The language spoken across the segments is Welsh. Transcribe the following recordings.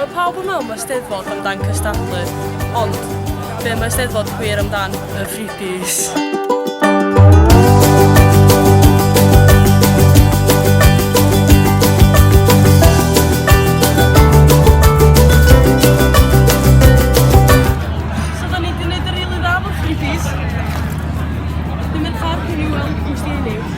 Mae pawb yn meddwl mae Steddfod amdan cystadlu, ond be mae Steddfod gwir amdan? Y freebies.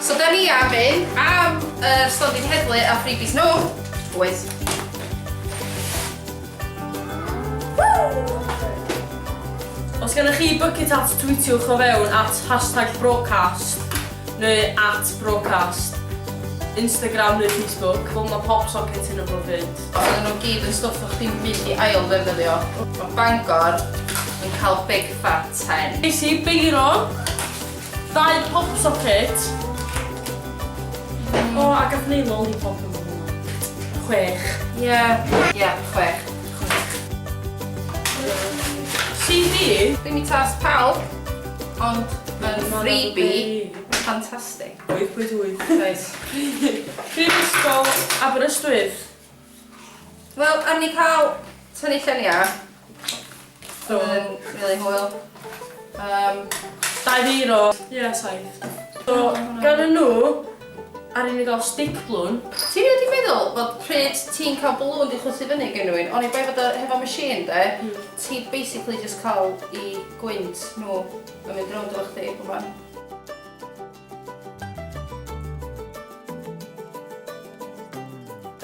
So da ni am un am yr stondin heddlu a freebies nhw, boys. Os gennych chi bucket at tweetiwch o fewn at hashtag broadcast neu at broadcast, Instagram neu Facebook. Wel mae pop socket yn y bwyd. Oedden nhw gyd yn stwff o'ch chi'n mynd i ail ddefnyddio. Mae Bangor yn cael big fat hen. Nes i beiro Dau pop socket. O, a gath Neil lollipop yn fan yna. Chwech. Ie. Ie, chwech. CD? Dim i tast pawb, ond mae'n freebie ffantastig. 8.8. Reit. Prifysgol Aberystwyth. Wel, ar ni cael tynnu lluniau. So, really hwyl. Um, Dau ddeir o... Ie, yeah, saith. So, gan y nhw, ar ni gael stick blwn. Ti'n rhaid i meddwl bod pryd ti'n cael blwn di chwythu fyny gen nhw'n, ond i bai fod o hefo machine de, mm. ti basically just cael i gwynt nhw yn mynd rownd efo chdi, gwybod?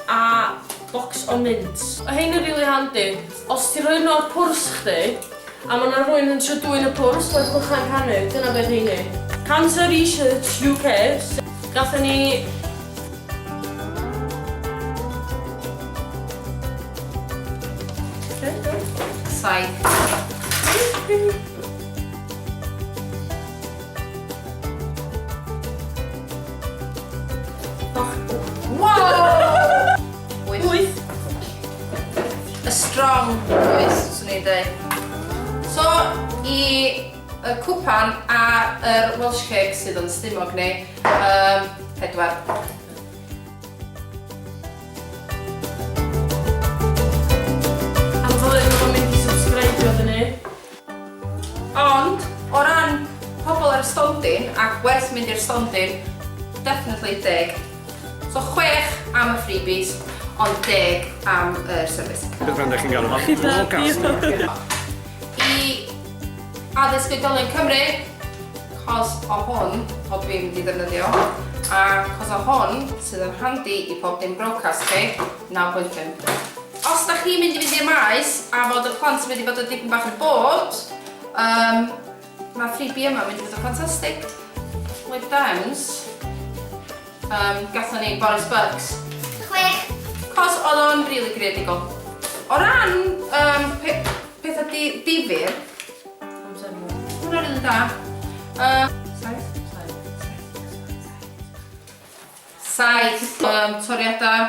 A box o mints. O rhein yn rili handi. Os ti'n rhoi nhw o'r pwrs chdi, a ma' 'na rhywun yn trio dwyn y pwrs, ma'r clychau'n rhannu, dyna be' rheini. Cancer Research UK, gathon ni... Saith. strong choice, swn i'n dweud. So, i y cwpan a yr Welsh cake sydd yn stumog ni, um, pedwar. Ond, o ran pobl ar y stondin, ac werth mynd i'r stondin, definitely deg. So chwech am y freebies, ond deg am yr service. Beth bynnag chi'n galw fo. Gyda diolch. I Addysg Oedolion Cymru, 'cos o hwn, o dwi'n mynd i ddefnyddio, a 'cos o hwn, sydd yn handi i pob dim broadcast chi, naw pwynt pump. Os dach chi'n mynd i fynd i'r maes a fod y plant wedi bod yn dipyn bach yn bored, yym, mae'r freebie yma mynd i fod yn ffantastig. With Downs, um, gatho ni Boris Bugs. Chwech. Cos oedd o'n rili really creadigol. O ran um, pe pethau di difyr, hwnna'n rili really da. Uh, Saith, um, toriadau,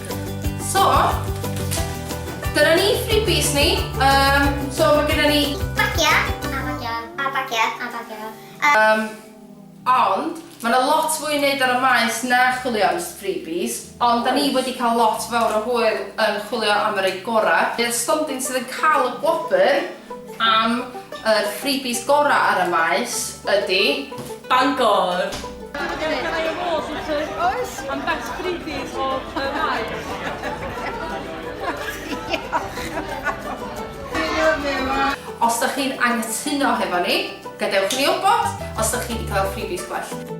So, dyna ni freebies ni. Um, so, mae gyda ni... Bagia, a bagia, a bagia, a bagia. Um, ond, Mae yna lot fwy i wneud ar y maes na chwilio am freebies, ond da ni wedi cael lot fawr o hwyl yn chwilio am yr ei gorau. Bydd Stondin sydd yn cael y gwobr am y freebies gorau ar y maes ydy... Bangor! Oes. I'm best freebies o y maes. Os da chi'n anghytuno hefo ni, gadewch i ni wybod os da chi wedi cael freebies gwell.